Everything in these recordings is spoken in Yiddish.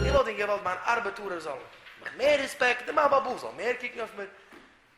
איך וואלט אים געוואלט מיין ארבעטארער זאלן מיך מער רעספעקט און מיין באבוב זאל מער קוקן אויף מיר,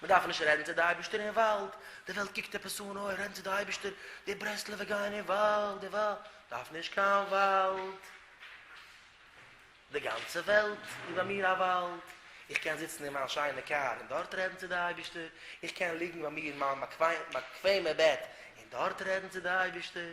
מען דארף נישט רעדן צו די אייבישטער אין וואלד, די וועלט קוקט עפעס אן, אוי רעדן צו די אייבישטער, די ברסלב'ע גייען אין וואלד, די וואלד, דארף נישט קיין וואלד, די גאנצע וועלט איז ביי מיר א וואלד, איך קען זיצן אין מיין שיינע קאר און דארט רעדן צו די אייבישטער, איך קען ליגן ביי מיר אין מיין באקוועמע בעט און דארט רעדן צו די אייבישטער.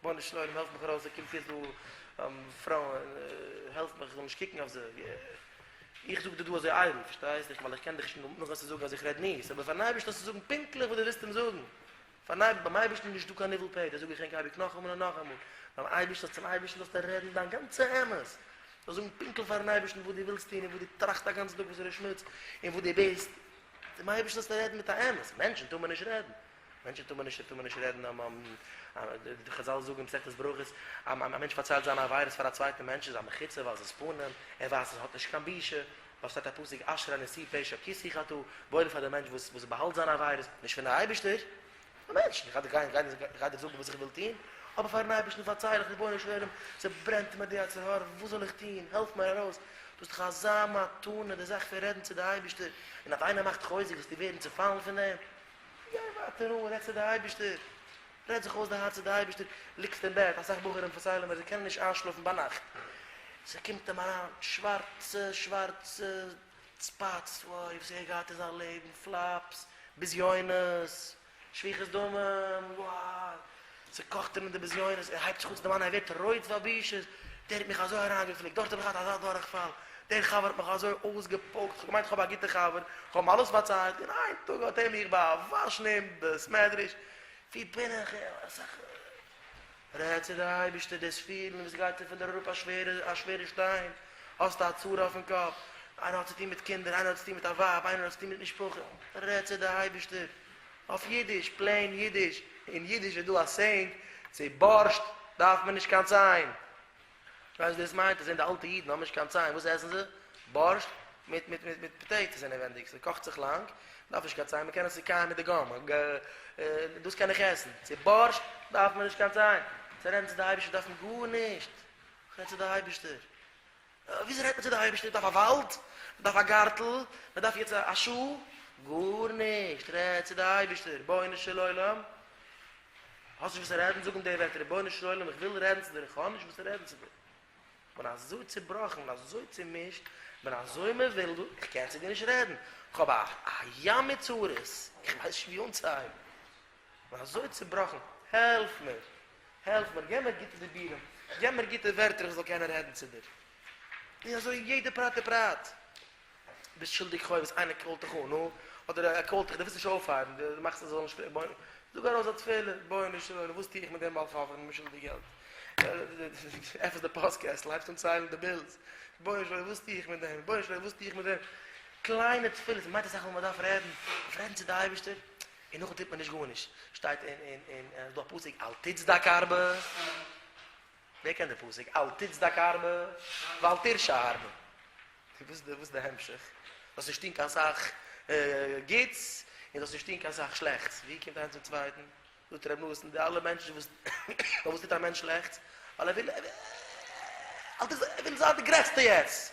רבונו של עולם העלף מיך ארויס ס'קומט צו דא פרויען העלף מיך איך זאל נישט קוקן אויף זיי איך זאג דיר דא אזוי איידל פארשטייסט דיך ווייל איך קען דיך שוין נאכן צו זאגן אז איך רעד מיאוס אבער פארן אייבערשטן האסטו זאגן פונקטליך וואס דו ווילסט אים זאגן פארן אייבערשטן ביים אייבערשטן איז נישטא קיין ניבול פה דאס זאג איך ענק אייביג נאכאמאל און נאכאמאל ביים אייבערשטן צום אייבערשטן זאלסטו רעדן דיין גאנצע אמת זאלסט זאגן פונקטליך פארן אייבערשטן וואס דו ווילסט טון און וואס דו טראכסט א גאנצן טאג וואס ער איז שמוץ און וואס דו ביסט צום אייבערשטן זאלסטו רעדן מיט א אמת מענטשן טאר מען נישט רעדן מענטשן טאר מען נישט טאר מען נישט רעדן און די חזל זאגן מסכת ברכות א מענטש פארציילט זיינע עבירות פאר א צווייטן מענטש איז א מחיצה ווייל עס איז פנים ער ווייסט עס האט נישט קיין בושה ווייל ס'שטייט א פסוק אשרי נשיא פשע כי שיא חטא וואויל פאר די מענטש וואס וואס באהאלט זיינע עבירות נישט פון די אייבערשטער א מענטש איך גיי גיי גיי דיר זאגן וואס איך וויל טון אבער פארן אייבערשטן פארצייל איך רבונו של עולם ס'ברענט מיר די יצר הרע וואס זאל איך טון העלף מיר ארויס דאס איז דאך אזא מתנה די זאך פון רעדן צו די אייבערשטער און אויף איינער מאכט חוזק זאלסטו ווערן צופאלן פון דעם. גיי ווייטער אן, רעד צו די אייבערשטער, רעד זיך אויס די הארץ צו די אייבערשטער, ליגסט אין בעט, אסאך בחורים פארציילן מיר זיי קענען נישט איינשלאפן ביינאכט, ס'קומט אים אריין שווארצע שווארצע ספאטס, וואוי וואס ער געהאט אין זיין לעבן, פלאפס, בזיונות, שפיכת דמים, וואו. צוקאכט אים אין די בזיונות, ער הייבט זיך אן צו דערמאנען, ער ווערט רויט פאר בושות, דער האט מיך אזוי אריינגעפליקט, דארט האב איך געהאט אזא דורכפאל, דער חבר האט מיך אזוי אויסגעפויקט, כ'האב געמיינט כ'האב א גוטע חבר, כ'האב אים אלעס פארציילט, און איין טאג האט ער מיך באוואשן אין בית מדרש, ווי בין איך געווען? רעד צו די אייבערשטער, דאס פילן ווי ס'גייט צו פון דיר אראפ א שווערע א שווערע שטיין, האסט א צרה אויפן קאפ, איינער האט צוטון מיט קינדער, איינער האט צוטון מיט א ווייב, איינער האט צוטון מיט משפחה, רעד צו די אייבערשטער, אויף אידיש, פלעין אידיש, אין אידיש איז דא א סעינג, צו בארשט דארף מען נישט קיין ציין. כ'ווייס וואס דאס מיינט, עס זענען די אלטע אידן האבן נישט קיין ציין, וואס עסן זיי? בארשט מיט מיט מיט מיט פאטעיטאס אינעווענדיג, ס'קאכט זיך לאנג, דארף נישט קיין ציין, מען קען עס צוקייען מיט די גאם, דאס קען איך עסן, צו בארשט דארף מען נישט קיין ציין, צו רעדן צו די אייבערשטער דארף מען גארנישט, כ'רעד צו די אייבערשטער. וויאזוי רעדט מען צו די אייבערשטער? מ'דארף א וואלד? מ'דארף א גארטל? מ'דארף יעצט א שול? גארנישט! רעד צו די אייבערשטער, רבונו של עולם, האסט נישט וואס צו רעדן? זאג אים די ווערטער, רבונו של עולם, איך וויל רעדן צו דיר, איך האב נישט וואס צו רעדן צו דיר, איך בין אזוי צעבראכן, איך בין אזוי צעמישט, איך בין אזוי מבולבל, איך קען צו דיר נישט רעדן, איך האב א ים מיט צרות, איך ווייס נישט ווי אנצוהייבן. כ'בין אזוי צובראכן, העלף מיר! העלף מיר! געב מיר גוטע דיבורים, געב מיר גוטע ווערטער איך זאל קענען רעדן צו דיר. און אזוי אין יעדע פרט ופרט. ביסט שולדיג חובות, איינער קאלט דיך אן, נו, אדער ער קאלט דיך, דו ווילסט נישט אויפהייבן, דו מאכסט אז ער זאל נישט פרעגן, בוא, זאג ארויס א תפלה, בונו של עולם, וואס טו איך מיט דעם בעל חוב, איך בין אים שולדיג געלט. עפענסט די פאסט קעסטל, הייבסט אן ציילן די בילס, בונו של עולם, וואס טו איך מיט דעם, בונו של עולם, וואס טו איך מיט דעם. קליינע תפילות, מ'מיינט אסאך ווען מ'דארף רעדן, מ'דארף רעדן צו די אייבערשטער, און נאכדעם טוט מען נישט גארנישט, שטייט אין אין אין אין דא א פסוק אל תצדק הרבה, ווער קען די פסוק אל תצדק הרבה ואל תרשע הרבה, וואס די וואס די המשך, זאלסט נישט טון קיין סאך גוטס און זאלסט נישט טון קיין סאך שלעכטס, ווי קומט איינס צום צווייטן, זאגט ר' נתן די אלע מענטשן וואס פאר וואס טוט א מענטש שלעכטס, ווייל ער וויל ער וויל זיין די גרעסטע יעצט,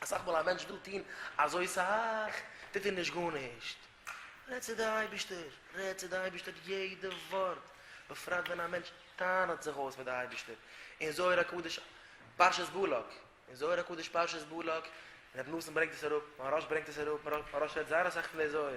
אסאך מאל א מענטש וויל טון אזוי סאך, טוט ער נישט גארנישט. רעד צו די אייבישטער, רעד צו די אייבישטער יעדע ווארט, בפרט ווען א מענטש טענה'ט זיך אויס מיט די אייבישטער. אין זוהר הקדוש פרשת בלק, אין זוהר הקדוש פרשת בלק, רבי נתן ברענגט עס אראפ, מהרש ברענגט עס אראפ, מהרש רעדט זייער אסאך פון די זוהר,